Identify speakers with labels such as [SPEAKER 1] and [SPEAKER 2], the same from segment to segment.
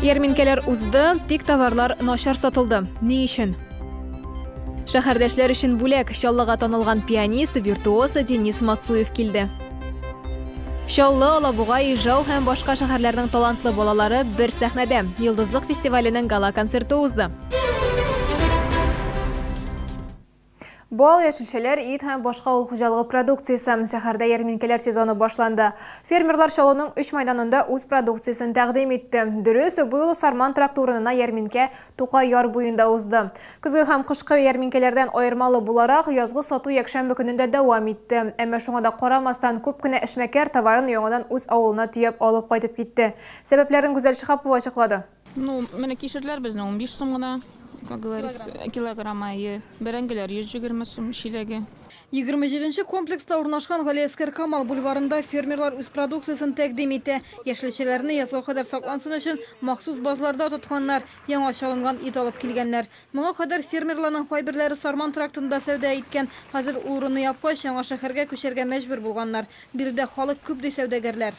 [SPEAKER 1] Ярминкәләр узды, тик товарлар начар сатылды. Ни өчен? Шәһәрдәшләр өчен бүләк Чаллыга танылган пианист, виртуоз Денис Мацуев килде. Чаллы, Алабуга, Ижау һәм башка шәһәрләрнең талантлы балалары бер сәхнәдә. Йолдызлык фестиваленең гала-концерты узды. Бал, яшелчәләр, ит һәм башка авыл хуҗалыгы продукциясе. Шәһәрдә ярминкәләр сезоны башланды. Фермерлар Чаллының өч мәйданында үз продукциясен тәкъдим итте. Дөрес, бу юлы Сарман тракты урынына ярминкә Тукай яр буенда узды. Көзге һәм кышкы ярминкәләрдән аермалы буларак, язгы сату якшәмбе көне дә дәвам итте. Әмма шуңа да карамастан, күп кенә эшмәкәр товарын яңадан үз авылына төяп алып кайтып китте. Сәбәпләрен Гүзәл Шиһапова ачыклады. Ну, менә кишерләр
[SPEAKER 2] безнең унбиш сум гына, как говорится, килограмма, әйе. Бәрәңгеләр йөз җигерме сум чиләге. Егерме җиденче
[SPEAKER 3] комплекста урнашкан Галиәсгар Камал бульварында фермерлар үз продукциясен тәкъдим итә. Яшелчәләрне язга кадәр саклансын өчен махсус базларда тотканнар, яңа чалынган ит алып килгәннәр. Моңа кадәр фермерларның кайберләре Сарман трактында сәүдә иткән, хәзер ул урыны япкач, яңа шәһәргә күчәргә мәҗбүр булганнар. Биредә халык күп, ди сәүдәгәрләр.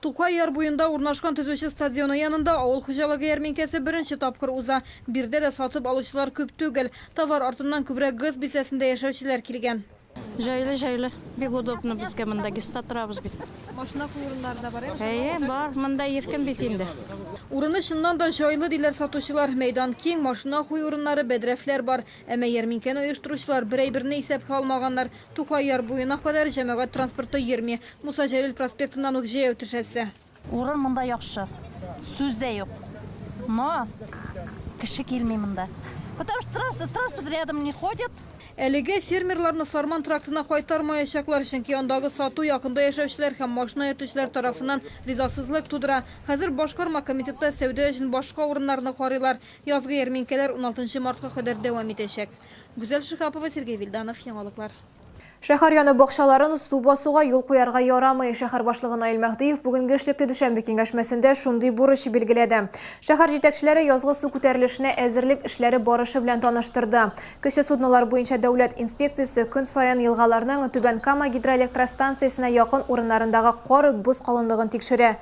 [SPEAKER 4] Тукай яр буенда
[SPEAKER 3] урнашкан төзүче стадионы янында авыл хуҗалыгы ярминкәсе беренче тапкыр уза. Биредә дә сатып алучылар күп түгел. Товар артыннан күбрәк ГЭС бистәсендә яшәүчеләр килгән. Җайлы, җайлы.
[SPEAKER 2] Бик удобно безгә монда, ГЭСта торабыз бит. Машина кую урыннары
[SPEAKER 3] да бар, әйеме? Әйе, бар. Монда иркен
[SPEAKER 2] бит инде. Урыны чыннан
[SPEAKER 3] да җайлы, диләр сатучылар. Мәйдан киң, машина кую урыннары, бәдрәфләр бар. Әмма ярминкәне оештыручылар бер әйберне исәпкә алмаганнар, Тукай яр буена кадәр җәмәгать транспорты йөрми, Муса Җәлил проспектыннан үк җәяү төшәсе. Урын монда
[SPEAKER 5] яхшы, сүз дә юк, но кеше килми монда, потому что транспорт, транспорт рядом не ходит. Әлегә
[SPEAKER 3] фермерларны Сарман трактына кайтармаячаклар, чөнки андагы сату якында яшәүчеләр һәм машина йөртүчеләр тарафыннан ризасызлык тудыра. Хәзер башкарма комитетта сәүдә өчен башка урыннарны карыйлар. Язгы ярминкәләр уналтынчы мартка кадәр дәвам итәчәк. Гүзәл Шиһапова, Сергей Вильданов, Яңалыклар. Шәһәр яны
[SPEAKER 1] бакчаларын су басуга юл куярга ярамый. Шәһәр башлыгы Наил Мәһдиев бүгенге эшлекле дүшәмбе киңәшмәсендә шундый бурыч билгеләде. Шәһәр җитәкчеләре язгы су күтәрелешенә әзерлек эшләре барышы белән таныштырды. Кече суднолар буенча дәүләт инспекциясе көн саен елгаларның Түбән Кама гидроэлектростанциясенә якын урыннарындагы кар, боз калынлыгын тикшерә.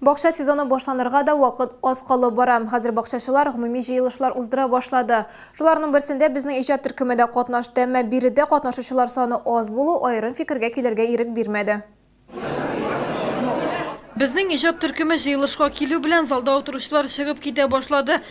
[SPEAKER 6] Бакча
[SPEAKER 1] сезоны башланырга да вакыт аз калып бара. Хәзер бакчачылар гомуми җыелышлар уздыра башлады. Шуларның берсендә безнең иҗат төркеме дә катнашты, әмма биредә катнашучылар саны аз булу аерым фикергә килергә ирек бирмәде.
[SPEAKER 3] Безнең иҗат төркеме җыелышка килү белән залда утыручылар чыгып китә башлады.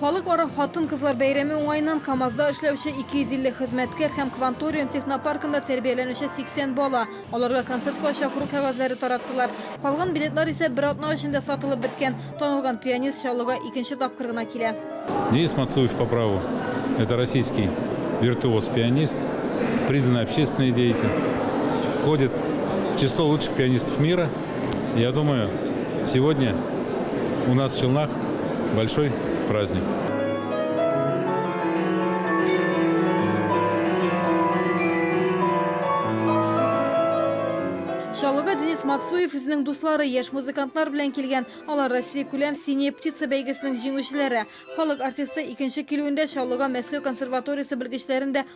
[SPEAKER 1] Халыкара
[SPEAKER 3] хатын-кызлар бәйрәме уңаеннан КАМАЗда эшләүче 250 хезмәткәр һәм Кванториум технопаркында тәрбияләнүче 80 бала. Аларга концертка чакыру кәгазьләре тараттылар. Калган билетлар исә бер атна эчендә сатылып беткән. Танылган пианист Чаллыга икенче тапкыр гына килә. Денис Мацуев
[SPEAKER 6] по праву, это российский виртуоз пианист, признанный общественный деятель, входит в число лучших пианистов мира. Я думаю, сегодня у нас в Челнах большой праздник.
[SPEAKER 3] Шалыга Денис Максуев үзенең дуслары яшь музыкантлар белән килгән. Алар Россия күләм Синяя птица бәйгесенең җиңүчеләре. Халык артисты икенче килүендә Шалыга Мәскәү консерваториясе белгечләрен дә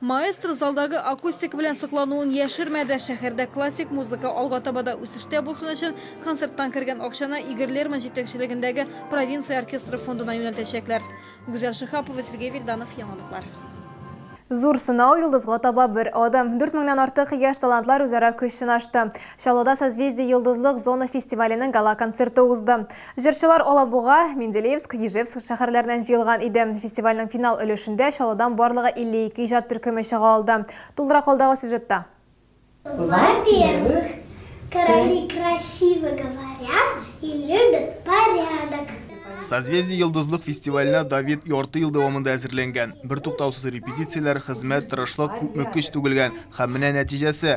[SPEAKER 7] Маэстро
[SPEAKER 3] залдагы акустика белән соклануын яшермәде. Шәһәрдә классик музыка алга таба да үсештә булсын өчен, концерттан кергән акчаны Игорь Лерман җитәкчелегендәге Провинция оркестры фондына юнәлтәчәкләр. Гүзәл Шиһапова, Сергей Вильданов, Яңалыклар.
[SPEAKER 1] Зур сынау, йолдызга таба бер адым. Дүрт меңнән артык яшь талантлар үзара көч сынашты. Чаллыда Созвездие йолдызлык зона фестиваленең гала-концерты узды. Җырчылар Алабуга, Менделеевск, Ижевск шәһәрләреннән җыелган иде. Фестивальнең финал өлешендә Чаллыдан барлыгы 52 иҗат төркеме чыга алды. Тулырак алдагы сюжетта. Во-первых,
[SPEAKER 8] короли красиво говорят и любят порядок. Созвездие
[SPEAKER 9] йолдызлык фестиваленә Давид ярты ел дәвамында әзерләнгән. Бертуктаусыз репетицияләр, хезмәт, тырышлык, күпме көч түгелгән. Һәм менә нәтиҗәсе.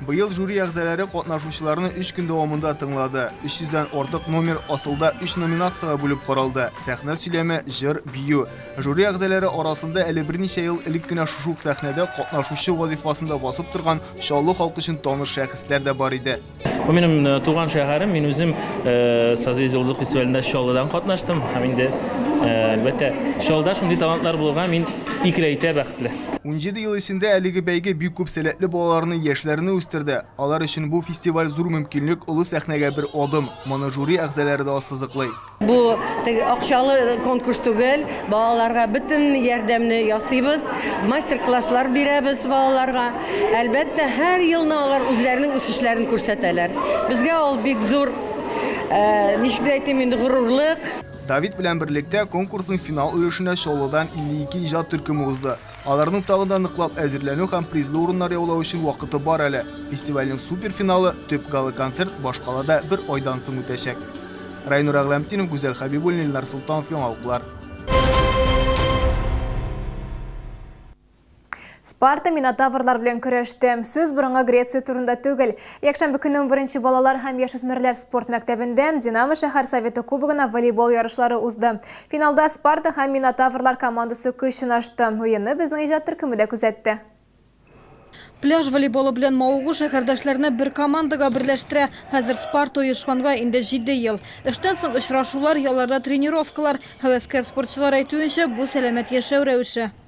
[SPEAKER 8] Быел жюри
[SPEAKER 9] әгъзаләре катнашучыларны өч көн дәвамында тыңлады. 300 дән артык номер асылда өч номинациягә бүлеп каралды, сәхнә сөйләме, җыр, бию. Жюри әгъзаләре арасында әле берничә ел элек кенә шушы ук сәхнәдә катнашучы вазифасында басып торган Чаллы халкы өчен таныш шәхесләр дә бар иде. Бу минем туган
[SPEAKER 10] шәһәрем, мин үзем Созвездие йолдызлык фестивалендә Чаллыдан катнаштым һәм инде, әлбәттә, Чаллыда шундый талантлар булуга мин икеләйтә бәхетле. Унҗиде ел эчендә
[SPEAKER 9] әлеге бәйге бик күп сәләтле балаларны, яшьләрне үстерде. Алар өчен бу фестиваль зур мөмкинлек, олы сәхнәгә бер адым. Моны жюри әгъзаләре дә ассызыклый. Бу теге
[SPEAKER 11] акчалы конкурс түгел. Балаларга бөтен ярдәмне ясыйбыз. Мастер-класслар бирәбез балаларга. Әлбәттә, һәр елны алар үзләренең үсешләрен күрсәтәләр. Безгә ул бик зур, ничек дип әйтим инде, горурлык. Давид белән
[SPEAKER 9] берлектә конкурсның финал өлешенә Чаллыдан 52 иҗат төркеме узды. Аларның тагын да ныклап әзерләнү һәм призлы урыннар яулау өчен вакыты бар әле. Фестивальнең суперфиналы, төп гала-концерт башкалада бер айдан соң үтәчәк. Райнур Әгъләмтдинов, Гүзәл Хәбибуллина, Илнар Солтанов, Яңалыклар.
[SPEAKER 1] Спарта минотаврлар белән көрәште. Сүз борынгы Греция турында түгел. Якшәмбе көнне 11 балалар һәм яшүсмерләр спорт мәктәбендә Динамо шәһәр советы кубогына волейбол ярышлары узды. Финалда Спарта һәм минотаврлар командасы көч сынашты. Уенны безнең иҗат төркеме дә күзәтте.
[SPEAKER 3] Пляж волейболы белән мавыгу шәһәрдәшләрне бер командага берләштерә. Хәзер Спарта оешканга инде җиде ел. Эштән соң очрашулар, ялларда тренировкалар. Һәвәскәр спортчылар әйтүенчә, бу сәламәт яшәү рәвеше.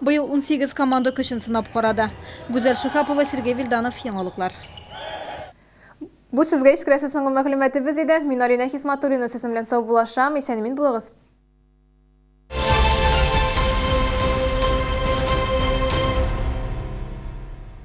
[SPEAKER 3] Быел унсигез команда көчен сынап карады. Гүзәл Шиһапова, Сергей Вильданов, Яңалыклар.
[SPEAKER 1] Бу сезгә искрәсе соңгы мәгълүматыбыз иде. Мин Алинә Хисматуллина сезнең белән саубулашам. Исән-имин булыгыз.